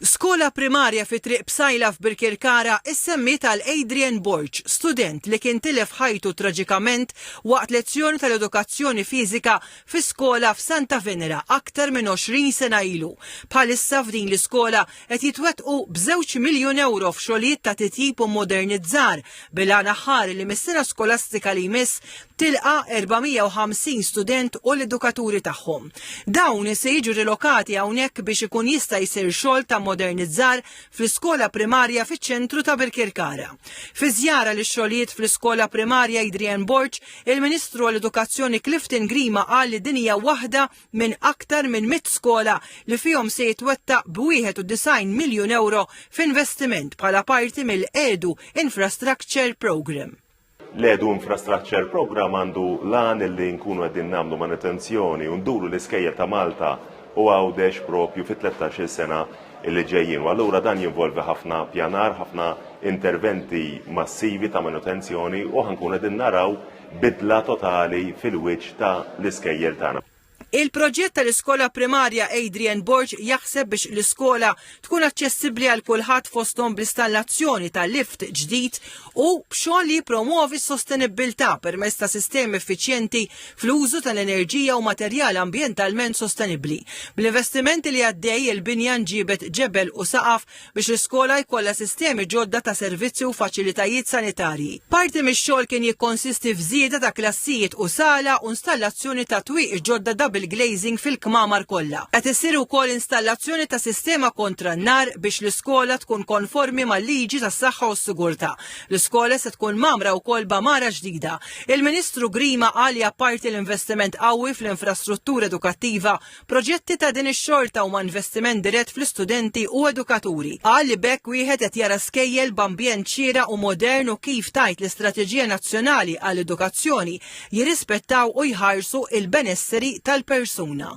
Skola primarja fi Triq Psaila f'Birkirkara issemmiet għal Adrian Borg, student li kien tilef ħajtu traġikament waqt lezzjoni tal-edukazzjoni fiżika fi skola f'Santa Venera aktar minn 20 sena ilu. Bħalissa f'din l-iskola qed jitwettqu b'żewġ miljun ewro f'xogħlijiet ta' titjib u mmodernizzar bil-għan aħħari li mis-sena skolastika li jmiss tilqa' 450 student u l-edukaturi tagħhom. Dawn se jiġu rilokati hawnhekk biex ikun jista' jsir xogħol ta' modernizzar fl-iskola primarja fiċ-ċentru ta' Birkirkara. Fi żjara lix-xogħlijiet fl-iskola primarja Adrian Borg, il-Ministru għall-Edukazzjoni Clifton Grima qal li din hija waħda minn aktar minn mitt skola li fihom se jitwettaq b'91 miljun ewro f'investiment bħala parti mill-EDU Infrastructure Programme. L-edu infrastructure program għandu lan li nkunu għedin namlu manutenzjoni u nduru l-iskejjel ta' Malta u għawdex propju fi 13 sena li ġejjin. U allura dan jinvolvi ħafna pjanar, ħafna interventi massivi ta' manutenzjoni u ħankun għedin naraw bidla totali fil-wiċ ta' l-iskejjel tagħna. Il-proġett tal-iskola primarja Adrian Borg jaħseb biex l-iskola tkun aċċessibbli għal kulħadd fosthom bl-istallazzjoni ta' lift ġdid u b'xogħol li jippromwovi s-sostenibbiltà permezz ta' sistemi effiċjenti fl-użu tal-enerġija u materjal ambjentalment sostenibbli. Bl-investimenti li għaddej, il-binja nġiebet ġebel u saqaf biex l-iskola jkollha sistemi ġodda ta' servizzi u faċilitajiet sanitarji. Parti mix-xogħol kien jikkonsisti f'żieda ta' klassijiet u sala u installazzjoni ta' twieqi ġodda double glazing fil-kmamar kollha. Qed issir ukoll installazzjoni ta' sistema kontra n-nar biex l-iskola tkun konformi mal-liġi tas-saħħa u s-sigurtà. L-iskola se tkun mgħammra wkoll b'għamara ġdida. Il-Ministru Grima qal li apparti l-investiment qawwi fl-infrastruttura edukattiva, Proġetti ta' din ix-xorta huma investiment dirett fl-istudenti u edukaturi. Qal li b'hekk wieħed qed jara skejjel b'ambjent xieraq u modern u kif tgħid l-Istrateġija Nazzjonali għall-Edukazzjoni jirrispettaw u jħarsu il-benesseri tal-persuna.